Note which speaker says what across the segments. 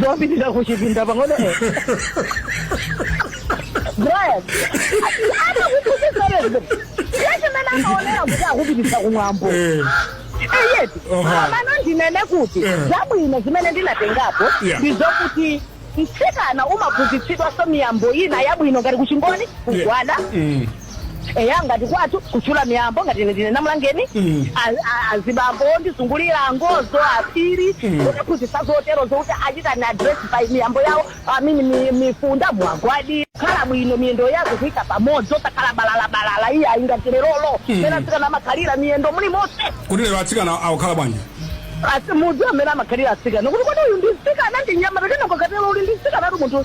Speaker 1: zopitira kuchipinda pang'ono eh. brian anakuphunzitsa lesson ya chimene amaonera kuti akupititsa kumwambo Eh. eti Aha. mmano ndinene kuti Eh. zabwino zimene ndinatengapo Yeah. ndizokuti mtsikana umaphunzitsidwanso miyambo ina yabwino ngati kuchingoni kugwada Mm. eya ngati kwathu kutchula miyambo ngati ine ndine namulangeni a- a- azibambo ondizungulira angozo aphiri kunaphunzitsa zotero zokuti achitani address by miyambo yawo I mean mi- mifunda kugwada khala bwino miyendo yako kuika pamodzi osakhala balalabalala iyayi ngati leroli mmene atsikana amakhalira miyendo muli monse kodi lero
Speaker 2: atsikana akukhala bwanji asi mudzi
Speaker 1: mmene amakhalira atsikana kuti kodi uyu ndi mtsikana ndi mnyamata kena kakatero uli ndi mtsikana ati munthu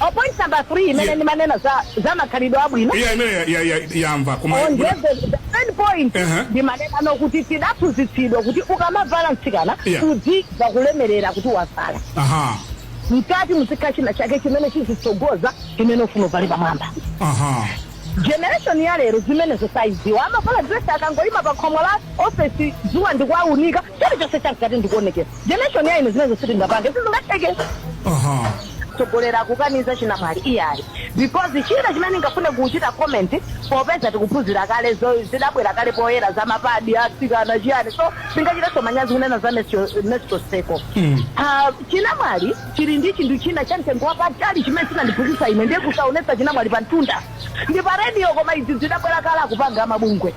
Speaker 2: o point
Speaker 1: number three imene Yeah. ndimanena za za makhalidwe abwino iya imene ya- ya- ya-
Speaker 2: yamva koma on the,
Speaker 1: the third point Ehe. ndimanena zokuti tidaphunzitsidwa kuti ukamavala mtsikana Yeah. uzimva kulemerera kuti wavala aha mkati muzikhala china chake chimene chizitsogoza chimene ufuna uvale pamwamba aha generation ya lero zimenezo sazidziwa amavala dress akangoyima pa khomo la ofesi dzuwa ndikuwaunika chilichonse cha mkati ndi kuonekera generation ya ife zimenezo sitingapange sizingatheke aha So wolera akukaniza chinamwali iyayi because china chimene ndingafune kuchita comment popeza tikuphunzitsa kale zo- zidabwera kale poyera za mapadi atsikana chiyani so sindingachitenso manyazi kunena za menstrual cycle Mm. chinamwali chili ndi chinthu china cha mtengo wapatali chimene chinandiphunzitsa ine ndiye kusaonetsa chinamwali pa mtunda ndi pa radio koma izi zidabwera kale akupanga amabungwe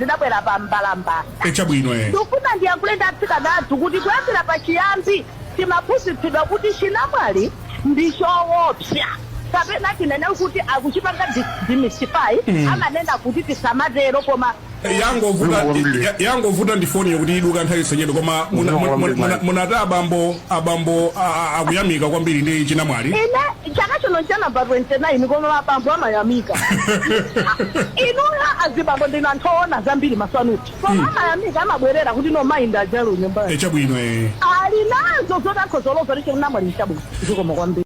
Speaker 1: zidabwera pa mbalambanda. e Chabwino. e Ndikufuna ndiyankhule ndi atsikana athu kuti kuyambira pachiyambi timaphunzitsidwa kuti chinamwali ndi choopsa kapena tinene kuti akuchipanga dis- demystify amanena kuti tisamatero koma yangovuta ya-
Speaker 2: yangovuta ndi foni yokuti iduka nthawi iliyonse koma muna- muna- muna- munati abambo abambo a- a- akuyamika kwambiri ndi chinamwali ine chaka
Speaker 1: chino ncha number 29 koma abambo amayamika inuyo azibambo ndinu anthu oona zambiri maso anuwo koma amayamika amabwerera kuti no mayi ndi aja a nyumbayo chabwino e ali nazo
Speaker 2: zoti akhoza
Speaker 1: kuloza kuti chinamwali nchabwino zikomo kwambiri